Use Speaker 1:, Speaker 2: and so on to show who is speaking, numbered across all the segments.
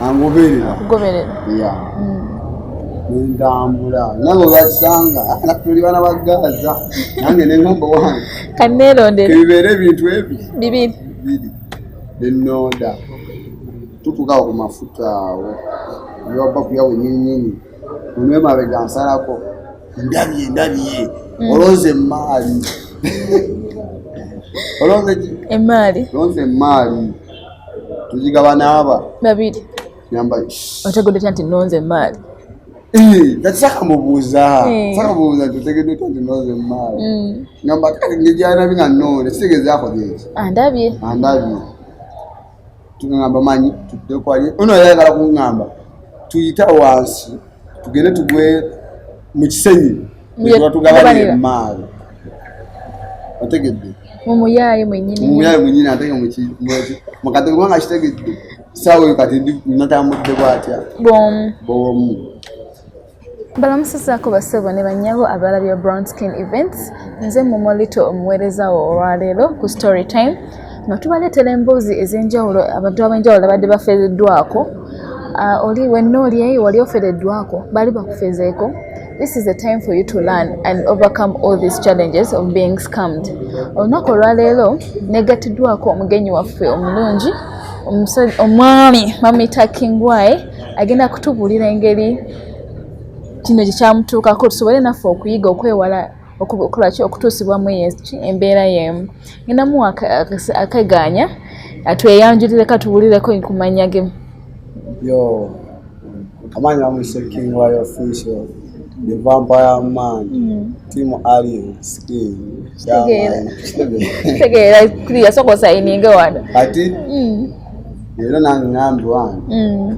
Speaker 1: angoberera akugoberera ya mm.
Speaker 2: nentambula nabo bakisanga tuli bana ba gaza nange nengamba wange kanerondera
Speaker 1: ebibeera ebintu
Speaker 2: ebi bibiri bibiri nenoda tutukawo ku mafuta awo yobba kuyawo nyinyini onwemabega nsalako ndabye ndabye mm. olonze emaali olonze emaali olonze emaali tugigabana aba babiri
Speaker 1: yambaye
Speaker 2: otegedde tanti
Speaker 1: nonze emaali kati
Speaker 2: saka mubuuza saka mubuuza nti otegedde tanti nonze emaali ngamba kati ngejanabi nga nonde kitegeeza akoze eki andabye andabye tugamba manyi tudde kwali ono yayagala kungamba tuyita wansi tugende tugwe mu kisenyi netubatugabana emaali otegedde mumuyaaye
Speaker 1: mwenyini mumuyaaye mwenyini ate nga
Speaker 2: mukadde kubanga kitegedde saawa oyo kati natambudde bwatya bomu bomu
Speaker 1: balamusizaako basebo ne banyabo abalabya brown skin events nze mumolito omuweereza wo olwaleero ku story time nga tubaleetera emboozi ez'enjawulo abantu ab'enjawulo abadde bafeereddwako ah, oli wenna oli eyo wali ofereddwako baali bakufezeeko this is a time for you to learn and overcome all these challenges of being scammed olunaku olwaleero negattiddwako omugenyi waffe omulungi omwami mamita kingwaye agenda kutubuulira engeri kino kyekyamutuukako tusobole naffe okuyiga okwewala okukolaki okutuusibwamu eyeki embeera yeemu ninamu akegaanya atweyanjulire katuwulireko kumanya ge yo
Speaker 2: amaanyi bamuyise king wayo official the vampire man mm. team alien skin
Speaker 1: tegeera kiriya sokosayininge wano ati mm.
Speaker 2: leero nange ngambi wange mm.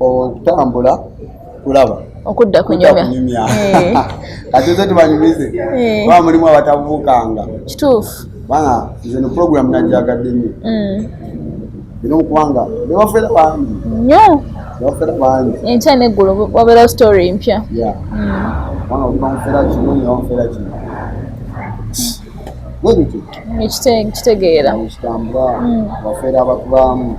Speaker 2: okutambula kulaba okudda kunyumya
Speaker 1: eh. kati
Speaker 2: nze tubanyumize eh. ba mulimu abatabuukanga kituufu
Speaker 1: bana nze no
Speaker 2: puroguramu najagadde nyo mm. era okubanga nebafera bangi nyo nebafera
Speaker 1: bangi
Speaker 2: enkya neggulu
Speaker 1: wabeerawo story empya mm.
Speaker 2: bana okuba mufera kino nyo bamufera kino
Speaker 1: ekitegeera ekitambula
Speaker 2: mm. bafera abakubamu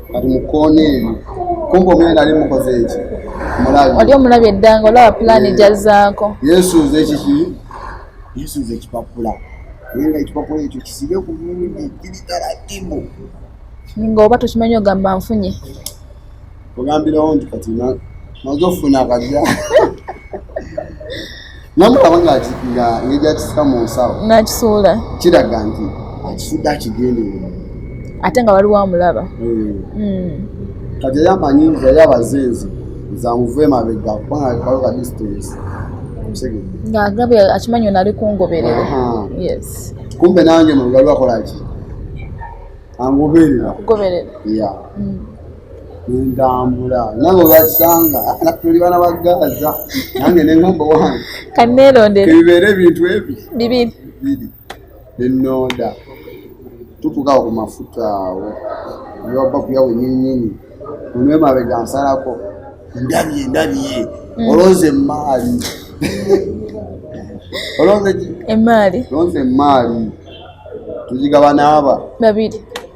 Speaker 2: kati mukoona ebyo kumbe omwene nali mukoze eki mulabi oli
Speaker 1: omulabi eddanga olaba pulaani eh, gyazaako yesuuza ekiki
Speaker 2: yesuuza ekipapula naye nga ekipapula ekyo kisibe ku mulu giri taratibu nga
Speaker 1: oba tokimanyi ogamba nfunye
Speaker 2: ogambirawo nti kati maze ofuna akagya namulaba nga ngegyakisika mu nsawo nakisuula kiraga
Speaker 1: nti
Speaker 2: akifudde akigendeera ate nga
Speaker 1: waliwo amulaba
Speaker 2: eh. hmm. kati yamanyi yali abazinzi zamuva emabega kubanga kaliwo ka distance ngaagabe
Speaker 1: akimanyi ono ali kungoberera yes
Speaker 2: kumbe nange mulugaliwakolaki angoberera kugoberera ya hmm. nentambula nabo bakisanga tuli bana ba gaza nange nengamba wange kanerondera
Speaker 1: ebibeera ebintu
Speaker 2: ebi bibiri bibiri
Speaker 1: nenoda
Speaker 2: tutukawo ku mafuta awo newaba kuyawo nyinyini onwemabega nsalako ndabye ndabye mm. olonze emaali olonze emaali olonze emaali tugigabana aba babiri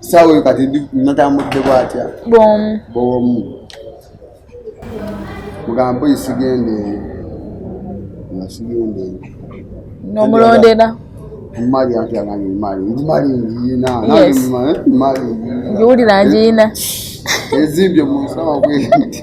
Speaker 2: saawa oyo kati natambudde bwatya bwomu bwomu mugamba oyi sigenda eyo nga sigenda eyo
Speaker 1: nomulondera
Speaker 2: mali anti agange mali ndi mali njiyina mali njiwulira
Speaker 1: njiyina ezimbye
Speaker 2: mu nsaba kwenti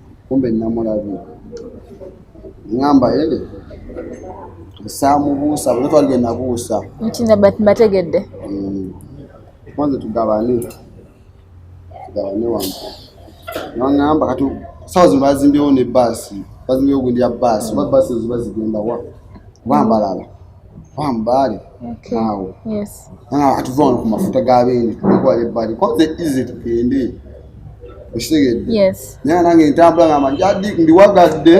Speaker 2: kumbe namulabye ngamba ele saamubuusa bwe twalibye nabuusa nti
Speaker 1: mbategedde
Speaker 2: maze mm. tugabane tugabane wamu nangamba kati sawa zino bazimbyewo ne baasi bazimbyewo gundi ya baasi oba baasi ezo bazigenda wa wambalala Fahamu bali. Okay. Awo. Yes. Ah, atuva wano ku mafuta ga beene tukwala ebbali kwanza easy tugende okitegedde yes. naye nange ntambula ngamba njadi ndiwagadde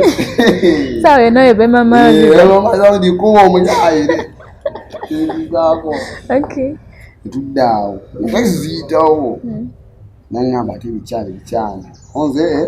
Speaker 2: sawa
Speaker 1: eno ebemamaandikuba eh,
Speaker 2: omuyaire ebizaako etudde awo entaki ziyitawo hmm. nangamba ate bikyali bikyali onze eh?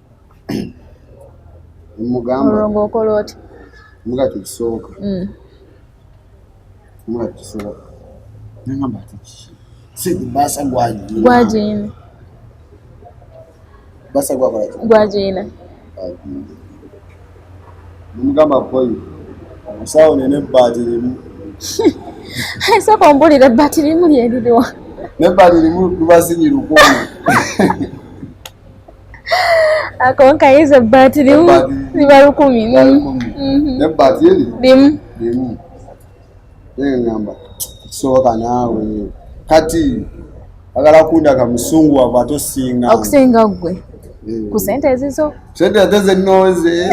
Speaker 2: olwo okola
Speaker 1: oti muga
Speaker 2: tekisoboka mm. muga tekisoboka nangamba ati sente basa gwajina gwajina basa gwakola gwajina mugamba koyi omusawo nene ebbaati limu
Speaker 1: sooka ombulira ebbaati limu lyeririwa nebbaati
Speaker 2: limu lubazinyi lukumi
Speaker 1: akonka yize ebbaati limu liba lukumi naye ebbaati eri
Speaker 2: limu limu naye ngamba kisoboka naawe kati agala kundaga musungu wava ate osinga okusinga ggwe eh.
Speaker 1: ku sente ezizo sente ate zenooze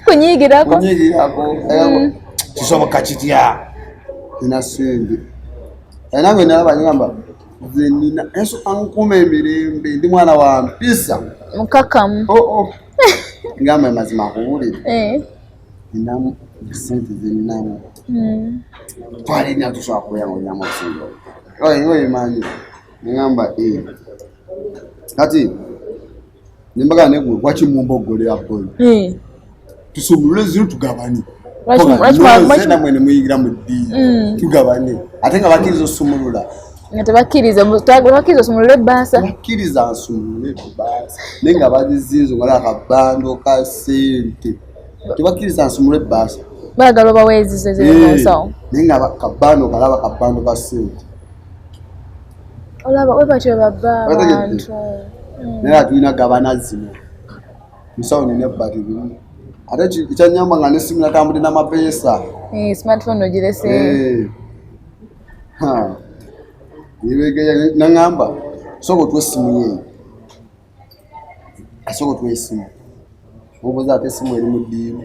Speaker 1: kunyigirako
Speaker 2: mm. kisoboka kitya ina sente era nge nalaba nyamba nze nina yesu ankuuma emirembe ndi mwana wa mpisa mukakamu
Speaker 1: oh, oh.
Speaker 2: ngamba amazima akuwulire eh. ninamu sente zeninamu hmm. twalina tusobola kuyangonyamu obusinga oyo oyo manyi ngamba eh. kati nembaga ne gwe waki mumba ogole ya boy eh tusumule zinu tugabani na mwene muyigira mu di mm. tugabani ate nga bakiriza osumulula nga tebakiriza
Speaker 1: bakiriza osumulule basa bakiriza asumulule
Speaker 2: basa ne nga bazizinzo nga laka bando ka sente tebakiriza asumulule basa bagalo bawezizo
Speaker 1: zero eh, so ne nga kabano
Speaker 2: kalaba kabano ka sente olaba
Speaker 1: we batyo babba abantu hmm. naye
Speaker 2: atulina gabana zino musawo nina ebbali bimu ate kyanyamba nga nesimu natambudde namapeesa eh, smartphone
Speaker 1: ogirese eh.
Speaker 2: nebegeya nangamba soka otwa essimu yeeyo asooka otuwa esimu obuuza ate esimu eri mu ddiiru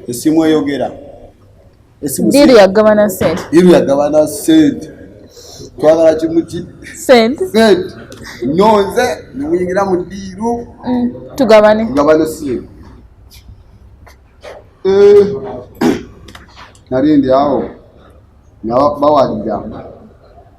Speaker 2: esimu eyogera
Speaker 1: ddiiru yagabana sente ddiiru yagabana
Speaker 2: sente twagala kimu ki sente sente nonze nemuyingira mu ddiiru mm, tugabane
Speaker 1: tugabane simu
Speaker 2: eh, nali ndi awo nabawalira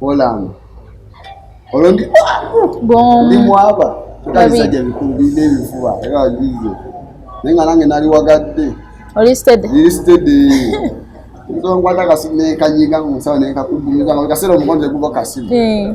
Speaker 2: Olanga. Olwo ndi gomu. Ndi mwaba. Kalisajja bikulu bide bifuba. Era wajizo. Nenga nange nali wagadde. Oli steady. Ndi
Speaker 1: steady.
Speaker 2: Nzo ngwata kasi ne kanyiga musawa ne kakubumiza. Kasero mukonze kuba kasi. Eh.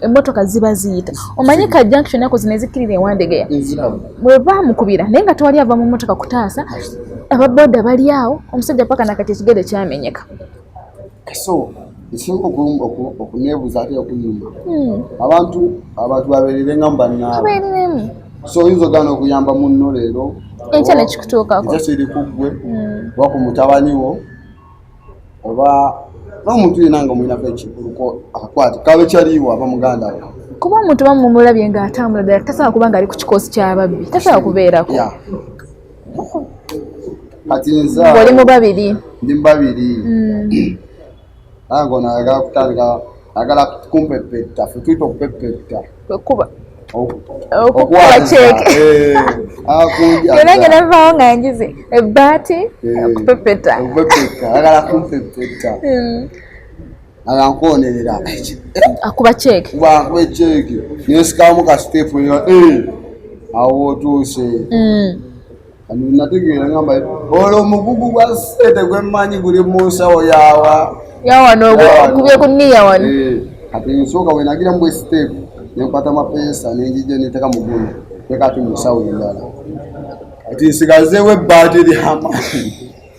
Speaker 1: emmotoka ziba ziyita omanyi ka junction nako zino ezikkirira ewandegeya bwe baamukubira naye nga tewali ava mu mmotoka kutaasa ababoda bali awo omusajja paka nakati ekigere kyamenyeka
Speaker 2: ekisinga okuneebuza ate okunyuma hmm. abantu abantu babeerere nga mubanaabwereremu so oyinza ogaana okuyamba munno leero enkya nekikutuukako
Speaker 1: ekyo kiri ku ggwe
Speaker 2: hmm. oba ku mutabani wo oba n'omuntu yena nga omulinako ekikuluko akakwate kabe kyaliiwo aba muganda we kuba omuntu bamumulabye
Speaker 1: nga atambula ddala tasobola kuba nga ali ku kikoosi ky'ababbi tasobola kubeerako
Speaker 2: kati nza oli mu babiri
Speaker 1: ndi mu babiri
Speaker 2: hmm. nange ono ayagala kutandika ayagala kumpepetta fe tuyita okupepetta
Speaker 1: okuba okukuba ceeke eh, yona nga navaawo nga njize ebbaati eh, okupepeta agala
Speaker 2: kumpepeta hmm. aga nkwonerera akuba
Speaker 1: ceeke akuba ceeke
Speaker 2: nensikamu ka sitepu eh, awo otuuse hmm. nategeera ngamba olwo omugugu gwa sente gwemmanyi guli mu nsawo yawa yawa
Speaker 1: nokubye ku niya wano eh, kati nsooka
Speaker 2: wenagira mubwe siteepu nenkwata mapeesa nenjija neteka mugulu tekati mu nsawo endala kati nsigazeewo ebbaati lyamaani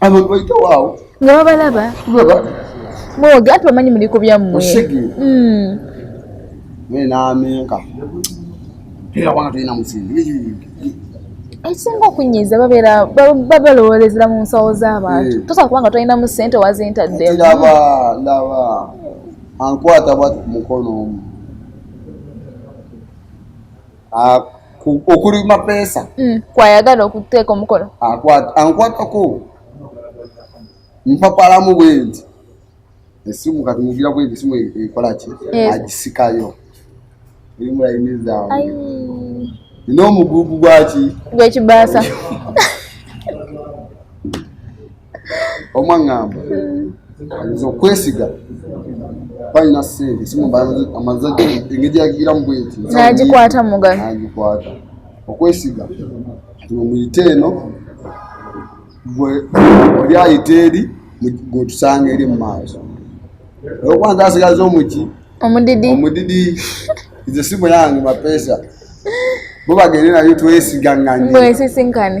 Speaker 2: abantu bayitawo awo nga babalaba
Speaker 1: mwoge ati bamanyi muli ku byammwe
Speaker 2: nenamenka hmm. era wana tolina musinzi
Speaker 1: ekisinga okunyiiza babeera babalowoolezera mu nsawo z'abantu eh. tosobola kubanga tolina mu ssente wazintaddemulaba laba
Speaker 2: ankwata bwati ku mukono omu ah, okuli mapeesa mm. kwayagala
Speaker 1: okuteeka omukono ankwatako
Speaker 2: mpapalamu bwenti esimu kati mugira bwenti esimu ekolaki agisikayo erimulainiza nina omugugu gwaki gwekibaasa omwaŋŋamba nze okwesiga balina sente simu amaze engeri yagiramu bweti nagikwata mugalo
Speaker 1: nagikwata
Speaker 2: okwesiga muyite eno gwe oli ayita eri gwetusanga eri mu maaso olwokubanza asigaza omuki omudidi omudidi nze simu yange mapesa bo bagende nayo twesigaŋŋanye mwesisinkane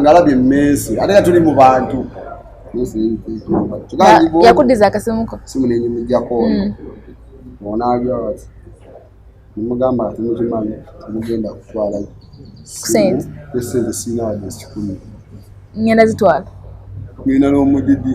Speaker 2: ngalabye mensi ate nga tuli mu bantu
Speaker 1: yakudiza akasimuko simu nenyimujako
Speaker 2: hmm. onabya wati nemugamba ati mukimanyi mugenda kutwala sente
Speaker 1: esente
Speaker 2: sinawaje sikumi ngenda
Speaker 1: zitwala ngenda
Speaker 2: n'omudidi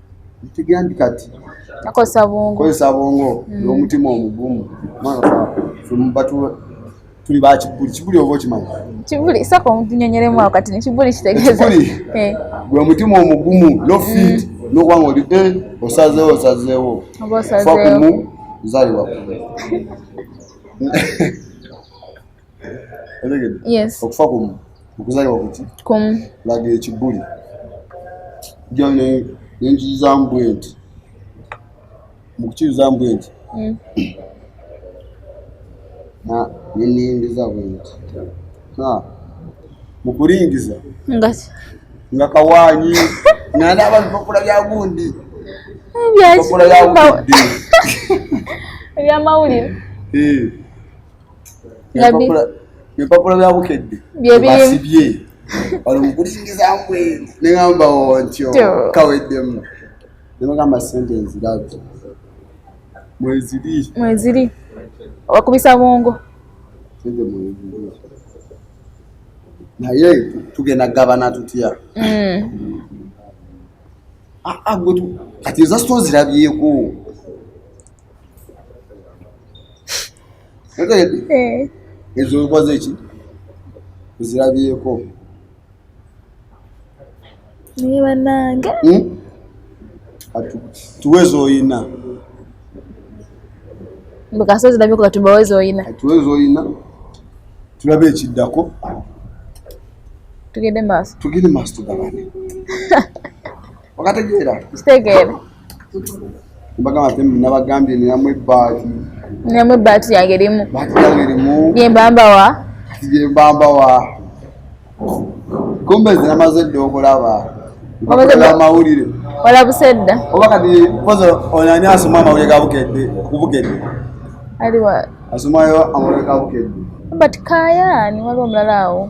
Speaker 2: kati akozesa bwongo
Speaker 1: kozesa bwongo mm.
Speaker 2: n'omutima omugumu tuli ba kibuli kibuli oba okimanyi kibuli saka
Speaker 1: omutunyonyeremu awo kati nekibuli kitegeeza eh. gwe
Speaker 2: omutima omugumu no mm. fit nokuba nga oli eh, osazeewo osazeewo fakumu zaliwa otegedde yes okufa kumu okuzalibwa kuki kumu laga ekibuli jja nenkirizaamu bwe nti mu kukirizaamu bwe nti mm. neniyingiza bwe nti mu kulingiza nga kawaanyi nga naaba bipapula bya gundi bipapula bya gundi ebyamawulire
Speaker 1: eh.
Speaker 2: ebipapula bya bukedde byebasibye wali mukulingiza mbwe neŋamba ontyo kaweddemu nemugamba sente nzirabi mweziri mweziri wakubisa bwongo sente mweziri naye tugenda gabana tutya mm. ah, ah, kati ezasitozirabyeko otegedde eh. ezo okoze ki ozirabyeko
Speaker 1: naye banange hmm?
Speaker 2: tuwezi oyina
Speaker 1: bwekasa zirabyeko katubawezi oyina tuwezi oyina
Speaker 2: tulabe ekiddako
Speaker 1: tugende maaso tugende maaso tugabane
Speaker 2: wakategeera
Speaker 1: kitegeera
Speaker 2: bagamba te nabagambye ninamu ebbaati ninamu
Speaker 1: ebbaati yange erimu baati yange erimu yembambawa kati
Speaker 2: gyembambawa kumbe nze namaze dda okulaba amawulire olabuse
Speaker 1: dda oba kati poza
Speaker 2: onani asoma amawulire gabukedde okubukedde aliwa
Speaker 1: asomayo
Speaker 2: amawulire gabukedde but
Speaker 1: kayani waliwo omulala awo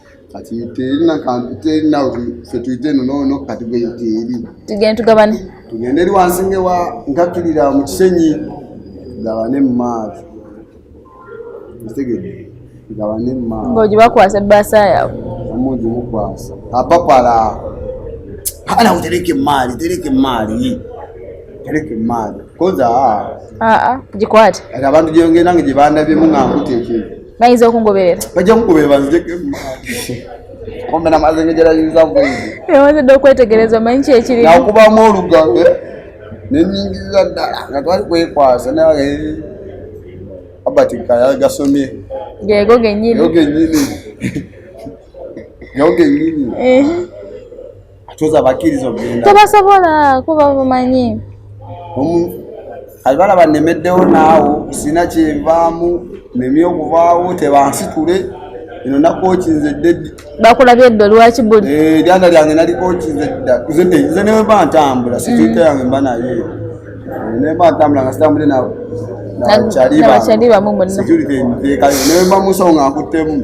Speaker 2: kati terina kantu terina fe tuyite eno noono kati gwe teeri tugende tugabane tugende eri wansi ngewa nkakirira mu kisenyi tugabane mu maaso kitegedde tugabane mu maaso ng'ogibakwasa ebbaasa
Speaker 1: yaabwe omungi mukwasa
Speaker 2: apapala kana utereke mali tereke mali tereke mali koza aa ah, ah, gikwate
Speaker 1: abantu
Speaker 2: gyongera nga gye bandabye mu nga nkuteekere bayinza okungoberera
Speaker 1: bajja kukubeera
Speaker 2: banzijeko ombe namaze ngegerayinza bwewazidde okwetegereza
Speaker 1: omanyi kyekiri nakubamu olugambe
Speaker 2: nenyingiza ddala nga twali kwekwasa naye abati kayagasomye gego genyini
Speaker 1: gego genyini
Speaker 2: atuza bakiriza ogenda tebasobola kuba
Speaker 1: bumanyi kati
Speaker 2: balaba nemeddewo naawo sina kyenvaamu nemi okuvaawo tebansitule ino nakokinze dedi bakulabye eddo
Speaker 1: lwaki buli eh, lyanda lyange nalikokinze
Speaker 2: dda nze newemba ntambula situita mm. yange mba naye eh, nemba ntambula nga sitambule nawe
Speaker 1: nabakyalibamumunekalinewebamusonga
Speaker 2: nkuttemu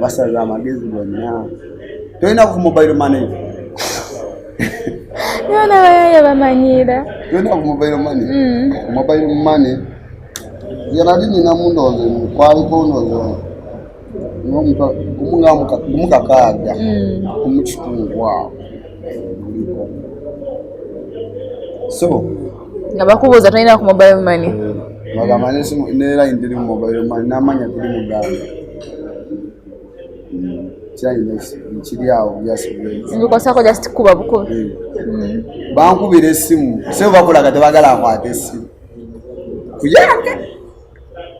Speaker 2: basaza amagezi gonna tolina ku mobile money
Speaker 1: yona bayaye bamanyiira tolina ku mobile
Speaker 2: money mm. mobile money yanali nina mundoze kwaliko ndoze omukakaaga omukitundu mm. awo so nga
Speaker 1: bakubuuza tolina ku mobile money bagamba
Speaker 2: neera ndiri mu mobile money namanya tuli muganda kiri awo byasibikosako
Speaker 1: just kuba bukubi eh. hmm.
Speaker 2: bankubira esimu sebo bakulaga tebagala akwata esimu kuyange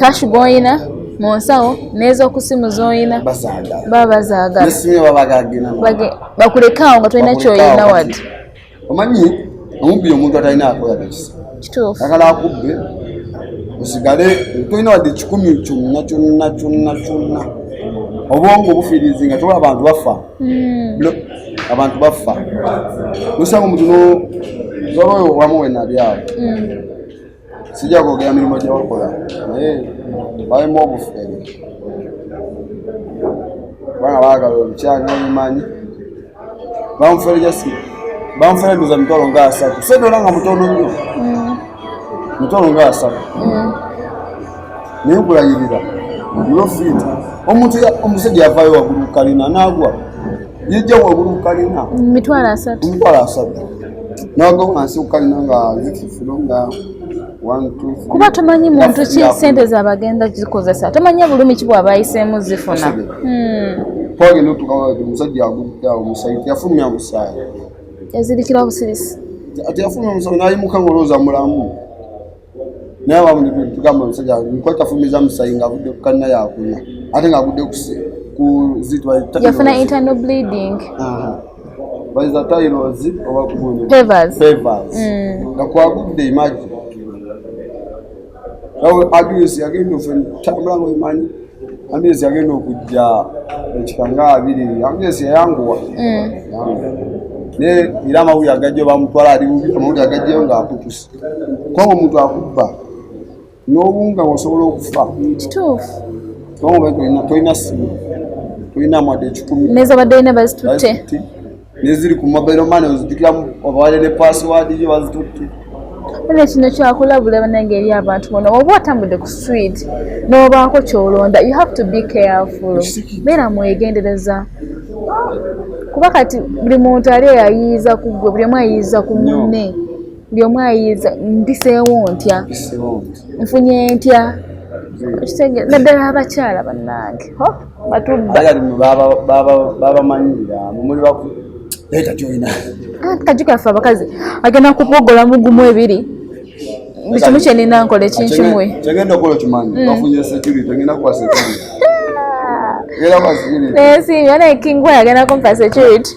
Speaker 2: kashi gwoyina
Speaker 1: mu nsawo n'ezokusimu zoyina baba bazaagala
Speaker 2: bakulekaawo
Speaker 1: nga tolina kyoyina wadde omanyi
Speaker 2: omubbi omuntu atalina akoyagakisa kituufu agala
Speaker 1: akubbe
Speaker 2: osigale tolina wadde kikumi kyonna kyonna kyonna kyonna obwongo obufiirizi nga tola abantu bafa hmm. abantu baffa nosanga omuntu nozola oyo wamu wenabyawo mm. sijja kwogera mirimu gyewakola naye balimu obufere kubanga baagala olukyanga omumanyi bamufere jasi bamufere ndoza mitwalo nga asatu sedola nga mutono nnyo mm. mitwalo nga asatu mm. naye nkulayirira nofita omuntu omusajja yavayo wagulu kukalina nagwa yejja wagulu kukalina mitwalo asatu
Speaker 1: mitwalo asatu naga
Speaker 2: wansi kukalina nga zikifulo nga kuba tomanyi muntu
Speaker 1: ki sente zabagenda zikozesa tomanyi bulumi ki bwabayisemu zifuna
Speaker 2: twagenda otukawaati omusajja agudde awo musayi teyafulumya musaayi yazirikira
Speaker 1: busirisi teyafulumya
Speaker 2: musayi nayimuka ngaolowooza mulamu naye wamutugamba omusajja nkwata fumiza musayi ng'avudde ku kanna yakunya ate ng'agudde kuzitwayafuna internal
Speaker 1: bleeding
Speaker 2: baiza tyros oba kugundifavors mm.
Speaker 1: nga
Speaker 2: kwagudde imagi abs yagenda ofentambula nga omanyi abs yagenda okujja ekika nga abiri abs yayanguwa mm. naye era amawulire agajjo bamutwala ali bubi amawulire agajjeyo ng'akutuse kubanga omuntu akubba n'obunga wasobola okufa kituufu
Speaker 1: kubanga
Speaker 2: tolina simu tolina mwade ekikumi nezabadde ina bazitutte
Speaker 1: neziri
Speaker 2: ku mobile money ozijukiramu obawale ne password yo bazitutte era kino
Speaker 1: kyakulabula banange eri abantu bona oba otambudde ku street nobaako kyolonda you have to be careful beera mwegendereza kuba kati buli muntu ali eyayiiza ku gwe buli omu ayiiza ku munne buli omu ayiiza mpiseewo ntya nfunye ntya naddala abakyala bannange batubabamanyira
Speaker 2: mumuli kaju kaffe
Speaker 1: abakazi agenda kupogola mugumu ebiri buli kimu kyenina nkola ekinkimwe naye si yona ekingwa yagenda kumpa security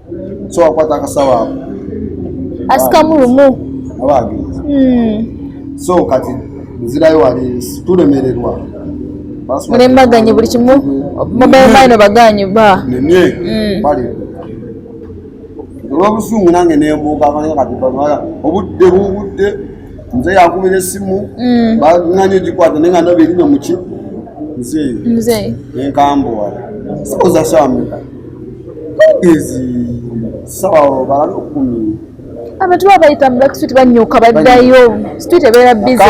Speaker 2: so wakwata akasawo ako asikamu
Speaker 1: lumu abagenzi
Speaker 2: hmm. so kati nzirayo wali tulemererwa
Speaker 1: mulembaganye buli kimu mobile mine baganye ba nene hmm. bali
Speaker 2: olwobusungu nange nembuuka abanaga kati bamala obudde bubudde nze yakubira esimu mm. bananye gikwata naye nga nabirino muki mzee mzee nenkambuwa sikuza samika abantu baba
Speaker 1: bayita mu black street banyuka baddayo street ebeera
Speaker 2: bize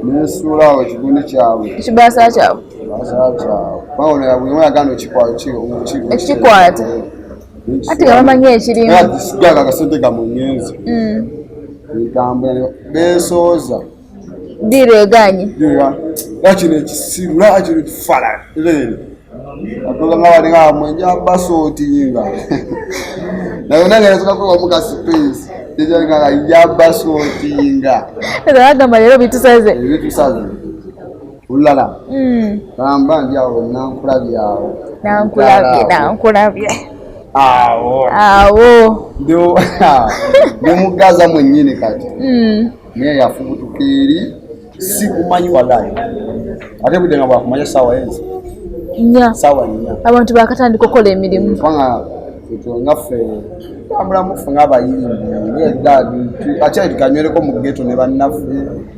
Speaker 2: nesuulawo ekigundi kyabwe ekibaasa
Speaker 1: kyabwe
Speaker 2: ekikwata
Speaker 1: ati nga bamanyi ekirimu direganye
Speaker 2: wakino ekisiru nakino ekifala lero atulanga walinga amwenja basotinga naye nange nasoka kwewa muka space tejalinga ya basotinga agamba
Speaker 1: lero bitusaze bitusaze olulala
Speaker 2: hmm. gamba ndi awo nankulabye awo nankulabye
Speaker 1: nankulabye awo awo
Speaker 2: ndi mugaza mwenyini kati hmm. naye yafubutuka eri sikumanyi walayi ate budde nga bwakumanya saawa enzi nya saawa nya abantu bakatandika okukola
Speaker 1: emirimu kubanga
Speaker 2: ekyo ngaffe tambula mufu ng'abayimbi ng'eddaadi akyali tukanywereko mu geto ne bannaffe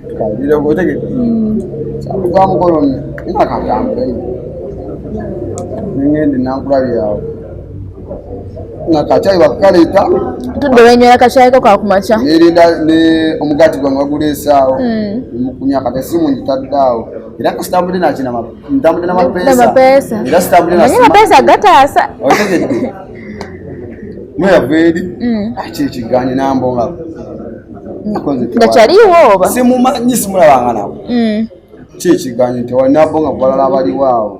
Speaker 2: tukayireko otegeke hmm. kyaluka mukolo nakatambule nengende nankulabyawo nga kacai wakukaleeta tudde wenywera
Speaker 1: kacai ko kakumakya nerinda ne
Speaker 2: omugati gwange waguleesaawo hmm. mukunya kata simu ngitadde awo era kasitambudde nakinama ntambudde namapeesa era sitambudde naye mapeesa gataasa
Speaker 1: otegedde
Speaker 2: mweyava eri hmm. aki ah, ekiganye nambonga
Speaker 1: nga kyaliwo oba simumanyi simulabanga
Speaker 2: nabo hmm. ki ekiganye nti walinabonga kubalala abaliwo awo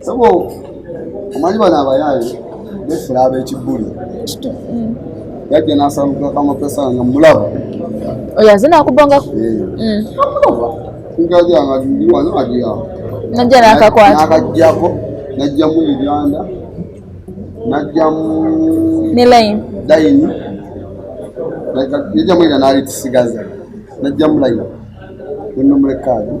Speaker 2: sabo omanyi bano abayaaye befula ab'ekibbuli yajja nasamuka kamapesa nga mulaba oyo aze
Speaker 1: nakubangako
Speaker 2: najja
Speaker 1: nakakwatnakajjako
Speaker 2: najjamu uganda najjamu
Speaker 1: nilaini daini
Speaker 2: najjamu ira nali tusigaza najjamu laini nenomulekayo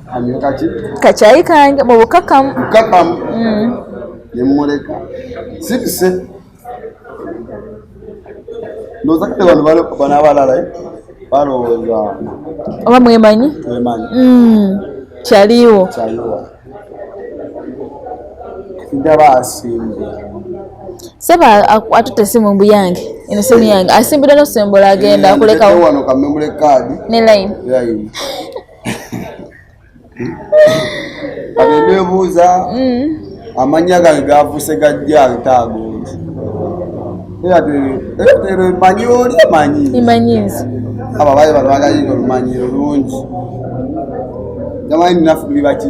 Speaker 2: kakyayi kange
Speaker 1: mu bukakamu bukakamu mm.
Speaker 2: nemuleka sibise ndoza kale bano bana abalala eh? balowooza oba
Speaker 1: mwemanyi mwemanyi mm. kyaliwo kyaliwo
Speaker 2: ndaba asimbe
Speaker 1: seba atute simu mbu yange eno simu yange asimbira nosembola agenda akulekawo wano kamemule kaadi
Speaker 2: ne line kati nebuuza mm. amannya gange gavuse gajja agtaagonzi ero emanyi oli emanyi emanyi nzi
Speaker 1: abo abaye bano
Speaker 2: bagaliira olumanyi olungi jamanyi naffe bibaki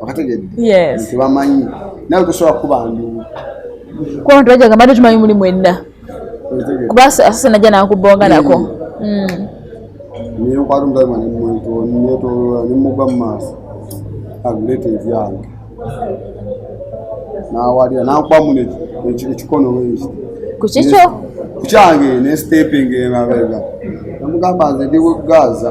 Speaker 1: okategedde
Speaker 2: yes. tebamanyi nawe tosobola kukuba nduulu kuba
Speaker 1: bantu bajja gamba tumanyi muli mwenna kuba asase najja nakubonga nako hmm.
Speaker 2: hmm. naye okwali omuzayi mani netolola nemugwa mu maaso aguleeta ebyange nawalira nakuba muno ekikono weki kukikyo
Speaker 1: kukyange
Speaker 2: ne steping emabega namugamba nze ndi gaza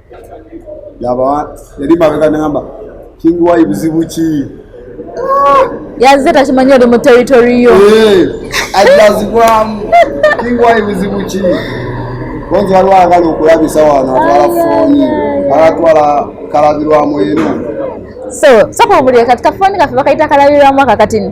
Speaker 2: laba yali mabega namba king wayi buzibu ki
Speaker 1: yazze takimanyi oli mu territory yo eh, ajazibwamu
Speaker 2: king wayi buzibu ki bonzi waliwo agala okulabisa wano atwala fooni alatwala kalabirwamu eno so soka
Speaker 1: obulire kati kafooni kaffe bakayita kalabirwamu akakatini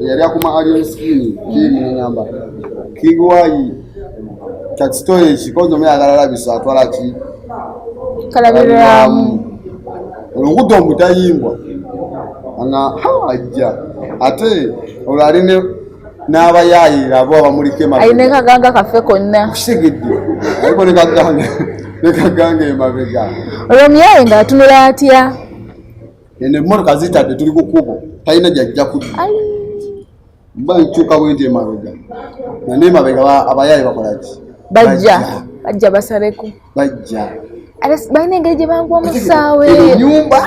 Speaker 2: eyali akuma alien skin king nangamba king wayi kakisitoyi ekikozo muyagala labisa atwala ki kalabiramu
Speaker 1: olugudo
Speaker 2: omutayimbwa nga hajja ate olwo ali n'abayaayira abo abamuliko emabega ne kaganga kaffe
Speaker 1: konna kusigidde
Speaker 2: aliko ne kaganga ne kaganga emabega olwo omuyaaye
Speaker 1: ng'atunula atya eno
Speaker 2: emmotoka zitadde tuli ku kubo talina gyajja kudda mba nkyuka bwenti emabega nane emabega abayaayi bakolaki bajja bajja basaleko
Speaker 1: bajja
Speaker 2: balina
Speaker 1: engeri gye banguwa musaawe enyumba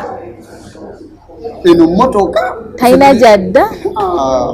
Speaker 2: eno mmotoka talina gyadda
Speaker 1: ah.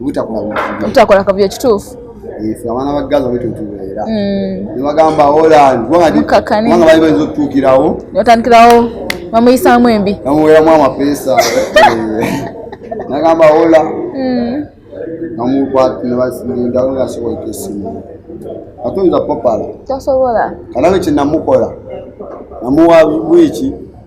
Speaker 2: obutakola kavuyo kituufu
Speaker 1: ife abaana ba
Speaker 2: gaza bwetutubeera mm. nebagamba holland kubanga bali bayinza okutuukirawo otandikirawo
Speaker 1: bamuyisaamu embi bamuweramu amapeesa
Speaker 2: nagamba hola mm. namukwatnebasindalongasobola esimu atoyinza popala tasobola
Speaker 1: kalabe kyenamukola
Speaker 2: namuwa wiiki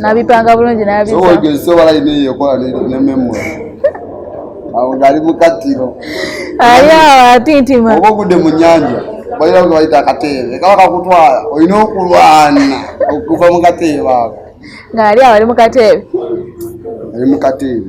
Speaker 2: nabipanga
Speaker 1: bulungi nabisobola ina
Speaker 2: eyokola ne memory awo ngaali mu kattiro ali awo
Speaker 1: atintima oba ogudde mu nyanja
Speaker 2: balira nga bayita akateebe kaba kakutwala olina okulwana okuva mu kateebe ako ngaali awo ali mu
Speaker 1: kateebe ali mu kateebe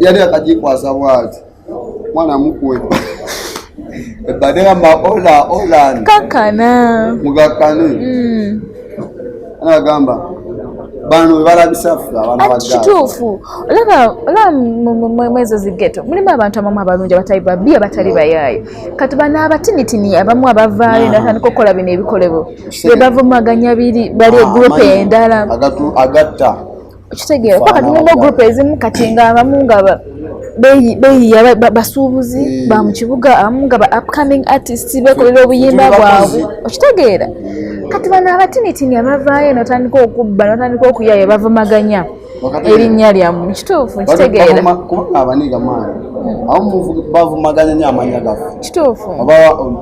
Speaker 1: yali
Speaker 2: akajikwasa bwati mwana mukwe ebadegamba ola ola kakana mugakane mm. anagamba bano webalabisa ffe abaana ba kituufu
Speaker 1: olaba olaba mwezo zigeto mulimu abantu abamu abalungi abatali babi abatali bayaayo kati bano abatinitini abamu abavaayo natandika okukola bino ebikolebo bebavumaganya biri bali egurupu ah, endala agatta
Speaker 2: okitegeera
Speaker 1: kuba kati mulimu group ezimu kati nga abamu nga beyiya basuubuzi eh. ba mu kibuga abamu nga ba upcoming artist bekolera obuyimba bwabwe okitegeera kati bano abatinitini abavaayo notandika okubba notandika okuyayo bavumaganya erinnya lyamu kituufu nkitegeera
Speaker 2: bavumaganya nyo amanya gaffe kituufu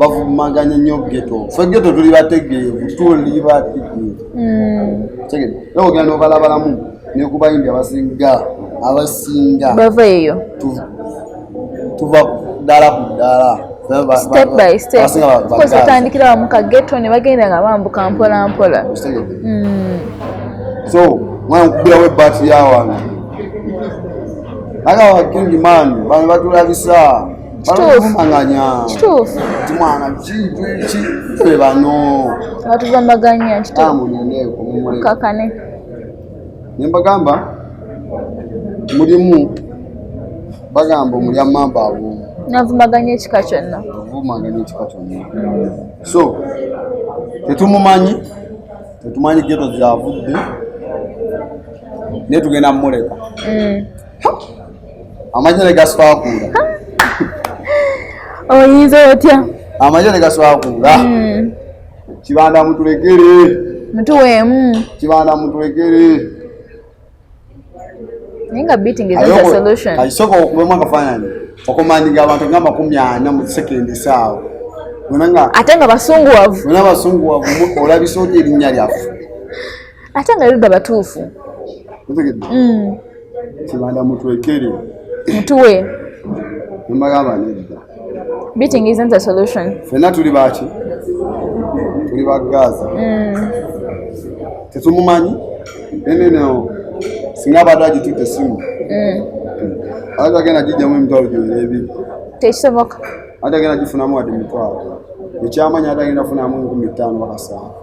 Speaker 1: bavumaganya
Speaker 2: nyo geto fe geto tuli bategeevu tuli bategeevu tegere era ogenda nobalabalamu nekubayimbi abasinga abasinga bava eyo tuva dala ku dala step by
Speaker 1: step because atandikira wamu ka ghetto ne bagenda nga bambuka mpola mpola hmm.
Speaker 2: so mwana kukubirawo ebbati ya wange naga wakindi man bano batulabisa balumanganya kituufu nti mwana kiki fe bano batuvamaganya
Speaker 1: kituukakane
Speaker 2: ne mbagamba mulimu bagamba omulya mamba awo navumaganya ekika
Speaker 1: kyonna vumaganya ekika kyonna
Speaker 2: so tetumumanyi tetumanyi geto gyavudde naye tugenda mumuleka mm. amagye ne gaswakuula
Speaker 1: oyinza otya amagye ne
Speaker 2: gaswakuula hmm. kibanda mutulekere mutuweemu
Speaker 1: kibanda
Speaker 2: mutulekere
Speaker 1: ninga beating is not a solution ayisoko okubema
Speaker 2: kafanani okumanyinga abantu nga makumi ana mu second saawa ate
Speaker 1: nga basunguwavu
Speaker 2: olabisa oti erinnya lyaffe ate
Speaker 1: nga yudda batuufu mm.
Speaker 2: kibanda mutwekere mutuwe nemagamba nedda beating
Speaker 1: isn't a solution fena tuli baki
Speaker 2: tuli bagaza mm. tetumumanyi eneneo singa abadde agitutte esimu mm. ate agenda gijjamu emitwalo gyonna ebiri tekisoboka
Speaker 1: ate agenda
Speaker 2: gifunamu wadde emitwalo ekyamanyi ate agenda funamu enkumi ttaano bakasaano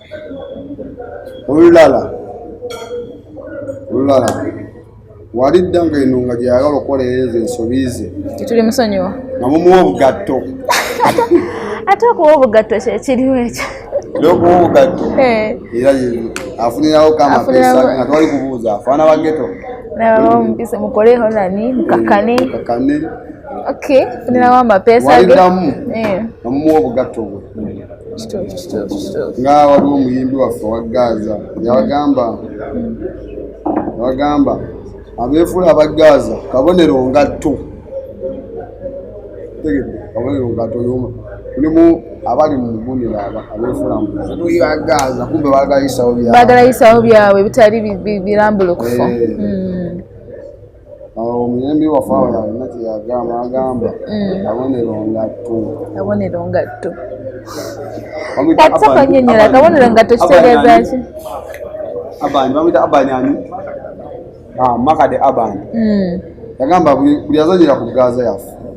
Speaker 2: olulala olulala wali dda nga eno nga gyeyagala okukolereeza ensobi ze tetuli musonyiwa
Speaker 1: nga mumuwa obugatto ate okuwa obugatto kyekiriwo ekyo okuwa obugatto
Speaker 2: eh. era afunirawo kamapeesa nga twali kubuuza afaana bageto nababamupise
Speaker 1: mukoleho nani mukakane mukakane okay funirawo amapeesa ge walidamu
Speaker 2: eh. nga mumuwa obugatto bwe nga waliwo omuyimbi waffe wa gaaza yabagamba yabagamba abeefuula aba gaaza kabonero ngatto tegedde kabonero ngatto yoma kulimu abali mu mugunira abeefuula muya gaaza kumbe bagala yisawo byabwe bagala yisawo byabwe bitali birambulukufu eh. hmm. omuyembi waffe awo yalina kyeyagamba agamba mm. kabonero ngatto kabonero ngatto ate
Speaker 1: konyonyola kabonero ngatto kitegeeza ki
Speaker 2: abani bamwita abani ani ah, makade abani mm. yagamba buli azanyira ku gaza yaffe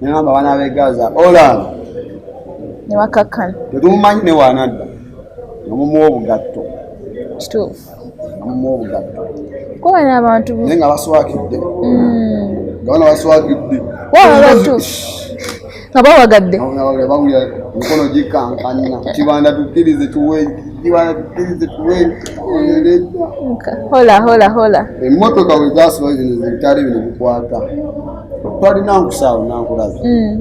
Speaker 2: nagamba abaana b'e gaza olaaba ne
Speaker 1: bakakkana tetumumanyi
Speaker 2: ne waanadda namumuwa obugatto kituufu
Speaker 1: namumuwa
Speaker 2: obugatto kuba n'abantu
Speaker 1: naye nga baswakidde
Speaker 2: hmm. nga bana baswakidde
Speaker 1: nga bawagadde bawulira
Speaker 2: emikono gikankanna kibanda tukkirize tuwe kibanda tukkirize tuwe
Speaker 1: hola hola hola emmotoka wezasoba
Speaker 2: zino zebitale bino bikwata twalina nkusaawo nankulaza mm.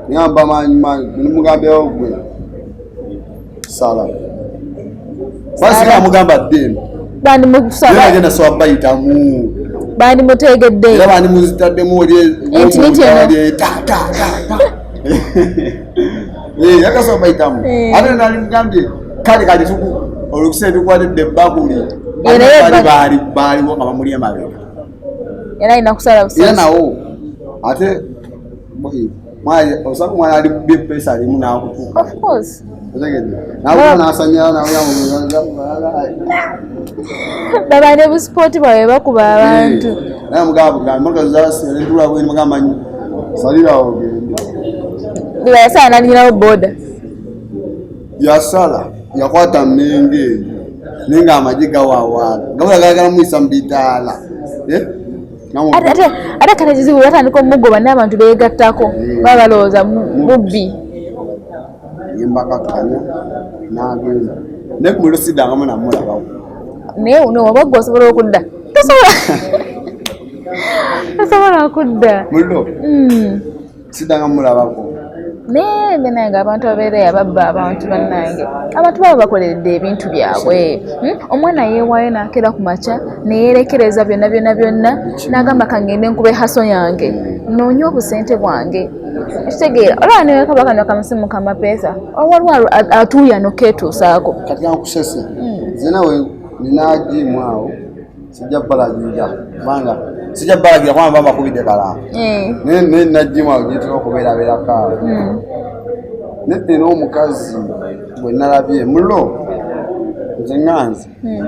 Speaker 2: nyamba maanyi maanyi nimugambyawo gwe sala basika amugamba ddeeno
Speaker 1: bandimugenda sowa bayitamu
Speaker 2: bandimutegedde
Speaker 1: era bandimuzitaddemu
Speaker 2: yakasowa bayitamu ate nalimugambye kale kati olukusa ebikwatidde ebbakuli baaliwo nga bamuli emabega era alina
Speaker 1: kusala busala era nawo
Speaker 2: ate osaka omwana ali kubye pesa alimu nakutuka
Speaker 1: baba ne busipooti bwabwe bakuba abantu salirawo ogende
Speaker 2: bweyasala
Speaker 1: nalingirawo boda yasala
Speaker 2: yakwata mmenge eyo naye nga amagye gawawaala gabula gagala muyisa mu bidaala
Speaker 1: eh? ate kale kizibu batandika omugoba n'abantu beegattako eh. baba balowooza bubbi yembakakanya
Speaker 2: nagenda naye kumulusidangamu namulabawo naye uno
Speaker 1: waba gwe osobola okudda tosobola tosobola okudda mullo hmm.
Speaker 2: sidanga mulabako naye
Speaker 1: benange abantu abeera yababba abantu bannange abantu baba bakoleredde ebintu byabwe hmm? omwana yeewaayo nakeera ku makya neyerekereza byonna byonna byonna nagamba kangende nkuba ehaso yange noonya obusente bwange ekitegeera olaba newekaba kano kamusimu kamapeesa owaliwo atuuyano keetuusaako kati ankusese
Speaker 2: hmm. zenawe ninagimu awo sijja kubalagira kubanga sijja kubalagira kubanga baba bakubidde kala eh. naye naye najjimu awo gyetera okubeerabeerako awo hmm. naye nina omukazi bwe nalabye mulo nze nganzi hmm.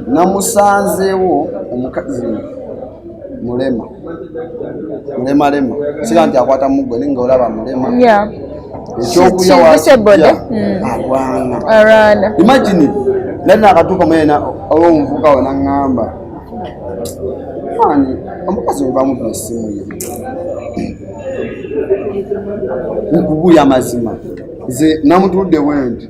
Speaker 2: namusanzeewo omukazi mulema nemalema sira nti akwata mugwe ninga olaba mulema ekyokulyaagwana mm. imagine nali nakatuuka muyena olwomuvuka we naŋŋamba ani omukazi webamuba esimu ye nkubuya amazima nze namutudde bwenti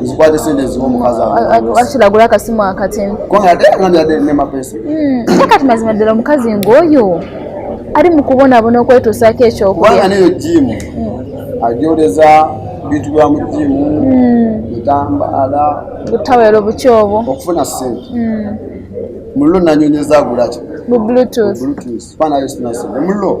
Speaker 2: nzikwate sente eziwa omukazi akiragula akasimu
Speaker 1: akatini
Speaker 2: hmm, kati mazima
Speaker 1: ddala omukazi ngaoyo ali mu kubonabona okwetuusaako ekyokulya neyo jimu hmm.
Speaker 2: ajoleza bintu bya mu jimu bitambala hmm. butawero
Speaker 1: buki obwo okufuna sente
Speaker 2: mullo nanyonyeza agulaki mu bluetooth
Speaker 1: bluetooth bana yesu
Speaker 2: nasente mullo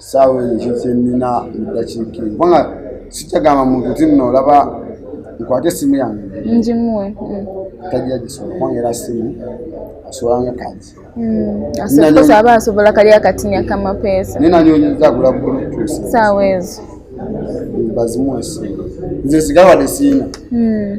Speaker 2: saawa eyo ekyo kyenina mudakiiki kubanga sikyagamba muntu ti nno olaba nkwate essimu yange ngimuwe
Speaker 1: mm. tajja
Speaker 2: gisobola kubanga era ssimu asobanga kati mm.
Speaker 1: aba asobola kali akatinya kamapeesa naye nanyonyeza agula
Speaker 2: bulutus saawa ezo
Speaker 1: bazimu
Speaker 2: esimu nze sigala wade siina mm.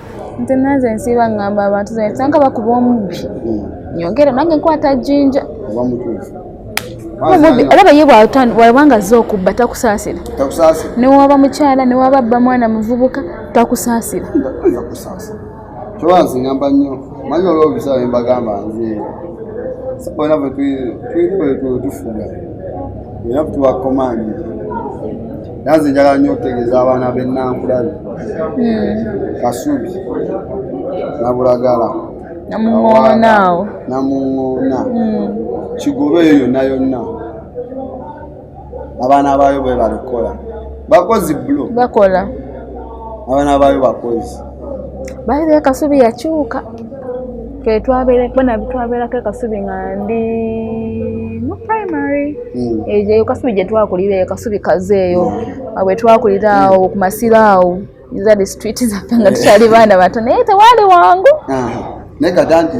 Speaker 2: nze nanze
Speaker 1: nsiiba ngamba abantu zensanga bakuba omubbi nyongere nange nkwata jinja olaba ye bwabanga ze okubba takusaasira newaba mukyala newaba bba mwana muvubuka takusaasira kyoba
Speaker 2: nzingamba nnyo manyi olwo obisaa embagamba nze sabona bwetulina bwetufuga era tubakomandi nanze njagala nyo okutegeeza abaana benankulabi hmm. kasubi nabulagala namuŋoonaawo namuŋoona hmm. kigobe eyo yonna yonna abaana baayo bwe balikola bakozi blo bakola
Speaker 1: abaana
Speaker 2: baayo bakozi bayize
Speaker 1: kasubi yakyuka twetwabeerako ekasubi nga ndi mu primary hmm. eyo kasubi gyetwakulira eyo kasubi kaze eyo abwe twakulira awo ku masiro awo zali street zaffe nga tukyali baana bato naye tewali wangu ah, naye kaga
Speaker 2: nti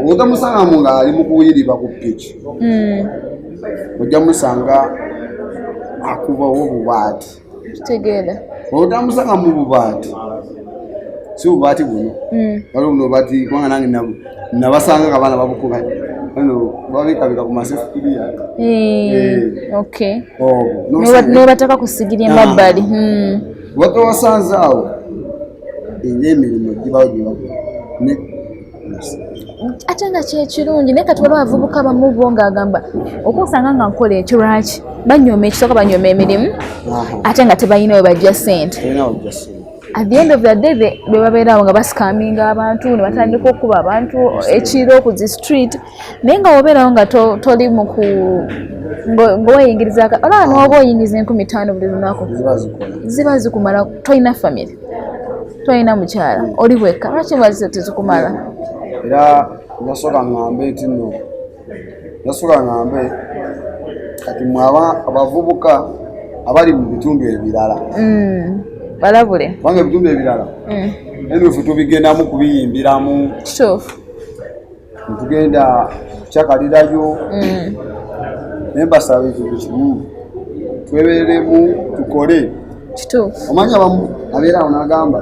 Speaker 2: obuta musalamu nga ali mukuyiriba ku piki hmm. ojja musanga akubawo obubaati kitegeera
Speaker 1: otamusanga
Speaker 2: mu bubaati si bubaati buno hmm. wali buno bati kubanga nange nabasanga nga baana babukuba ano babikabika ku masefukiriya eh,
Speaker 1: eh. oh, nebataka kusigira emabbali hmm.
Speaker 2: watowasanze awo era emirimu
Speaker 1: gibawo gyebakola ate nga kyekirungi naye kati waliwo abavubuka bamu bo ngaagamba okunsanga nga nkola ekyo lwaki banyooma ekisooka banyooma emirimu ate nga tebalina we bajja sente at the end of the day bebabeerawo nga basikaminga abantu nebatandika okukuba abantu ekiro ku zi street naye nga wobeerawo nga toli muku ngoweyingiriza olaba noba oyingiza enkumi taano buli lunaku ziba zikumala tolina famiry tolina mukyala oli wekka lwaki bazi tezikumala era
Speaker 2: nasoka ngambe nti no nasoka ngambe kati mwe abavubuka abali mu bitundu ebirala mm,
Speaker 1: balabule kubanga ebitundu
Speaker 2: ebirala mm. enufu tubigendamu kubiyimbiramu kituufu
Speaker 1: ntugenda
Speaker 2: kyakalirayo mm. naye mbasaba ekintu kimu tweberemu tukole
Speaker 1: omanyi abamu
Speaker 2: abeera awo nagamba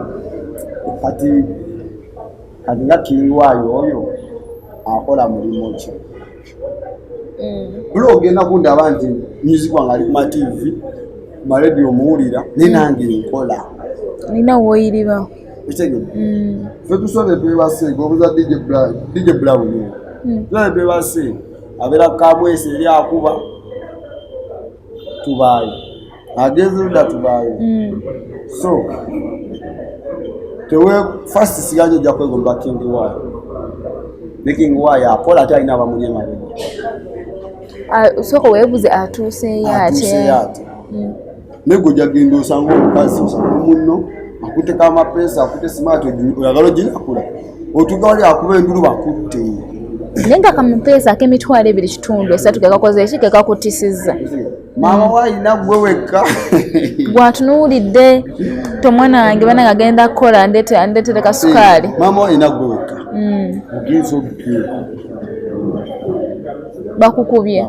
Speaker 2: kati kati nga kiriwaayo oyo akola mulimu ki mm. bula ogenda kundaba nti music wange ali kumativi maradio omuwulira naye mm. nange nkola nina
Speaker 1: woyiriba ekitegere
Speaker 2: mm. fe tusole twebasenga obuza dj brown mm. tusole twebasenga abeera kamwesi eri akuba tubaayo agenze luda tubaayo mm. so tewe fast siganye ojja kwegomba king y ne king y akola ate alina abamuli emabega ah,
Speaker 1: soko webuze atuuseyo ate naye
Speaker 2: gwe ojagenda osanga omukazi osanga munno akuteka amapeesa akute simaati oyagala oginakula otuga wali akuba endulu bakutte naye nga
Speaker 1: kamupeesa akemitwalo ebiri kitundu esatu kekakoze eki kekakutisiza maama
Speaker 2: wayina gwe wekka gwatunuulidde
Speaker 1: tomwana wange bana ngagenda kukola ndetere kasukaali maama wayina gwe wekka
Speaker 2: hmm. ogenza obukye
Speaker 1: bakukubye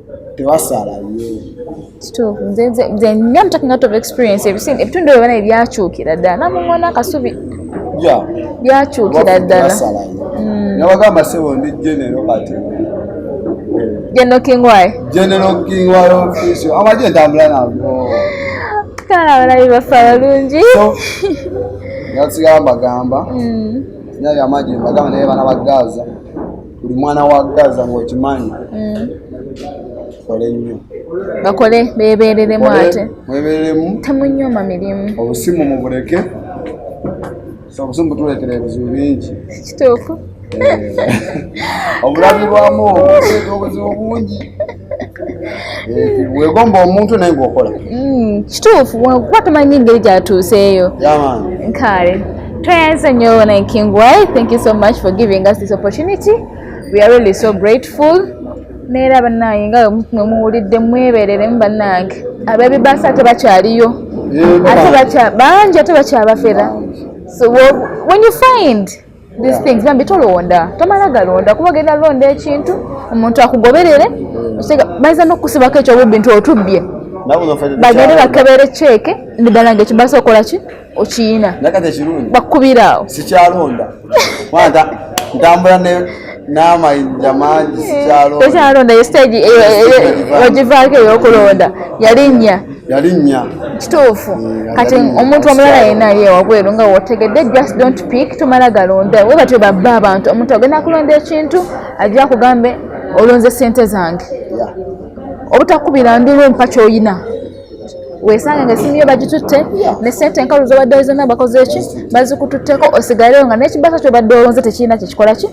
Speaker 1: ebitundu ebyo bana ebyakyukira ddala namuŋona akasubi byakyukira ddala hmm. nabagamba
Speaker 2: sebo ndi genero kati genero kingwaye
Speaker 1: genero kingwaye ofisi
Speaker 2: amaje ntambula nago kale
Speaker 1: abalabi bafa balungi nasigala
Speaker 2: mbagamba hmm. nyali amaje mbagamba naye bana bagaza buli mwana wa gaza ngaokimanyi mm. kole nnyo bakole
Speaker 1: bebereremu ate mwebereremu
Speaker 2: temunyoma mirimu
Speaker 1: obusimu mubuleke
Speaker 2: obusimu butuleetera ebizibu bingi kituufu
Speaker 1: eh.
Speaker 2: obulabi bwamu obuzibu bungi wegomba omuntu naye ngaokola mm, kituufu
Speaker 1: kuba tumanyi engeri gyatuuseeyo kale tweyanza nnyo naye king y thank you so much for giving us this opportunity we are really so grateful neera bannange nga mwe muwulidde mwebereremu bannange abebibaasa ate bakyaliyo ate bangi ate bakyabafera so when you find these things bambi tolonda tomala galonda kuba ogenda londa ekintu omuntu akugoberere bayinza nokukusibako ekyo bubintu otubbye bagende bakebere ceeke nedala nga ekibasa okola ki okiyina bakukubira awo sikyalonda
Speaker 2: ntambula n'amayinja mangi sikyalonda tekyalonda
Speaker 1: ye stage eh, eh, eh, ogivaako eyokulonda yalinnya yalinnya kituufu mm, kati omuntu omulala yena ye wabweru nga wotegedde just don't pick tomala galonda we batyo babba abantu omuntu agenda kulonda ekintu ajja kugambe olonze sente zange obutakubira ndulu mpa kyoyina wesanga nga esimu yo bagitutte ne sente enkalu zobadde zona bakoze ki bazikututteko osigaleo nga nekibasa kyobadde olonze tekirina kyekikola ki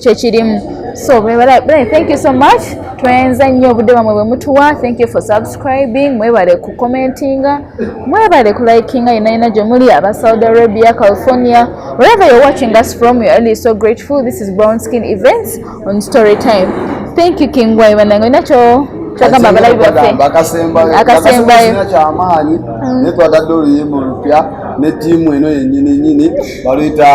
Speaker 1: kyekirimu so bwebalae thank you so much twenza nnyo obudde bamwe bwe mutuwa thank you for subscribing mwebale ku commentinga mwebale ku likinga yenayina gye muli aba saudi arabia california wherever you're watching us from you're really so grateful this is brown skin events on story time thank you king wai banange nakyo kyagamba abalabi baffe akasembayo
Speaker 2: kyamaanyi mm. netwagadde oluyimba olupya ne tiimu eno yenyini nyini baluyita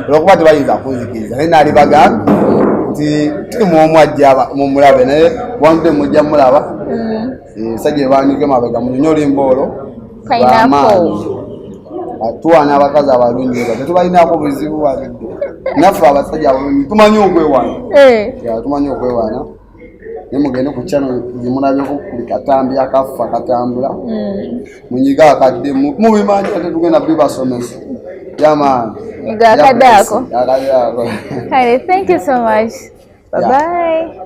Speaker 2: olwokuba tebayinza kunzikiriza naye naali bagambye nti tuli mwomu ajja mumulabe naye wanudde mujja mulaba esajja mm. ebandike mabega munyonyi olimba olwo bamaanyi tuwana abakazi abalungi eba tetubalinako buzibu walidde naffe abasajja abalungi tumanyi okwewana eh. tumanyi okwewana ne mugende ku kyano gyemulabyeko buli katambi akaffa katambula hmm. munyiga akadde mubimanyi ate tugenda bibasomesa yamaani akadde
Speaker 1: ako kale thank you so much bye bye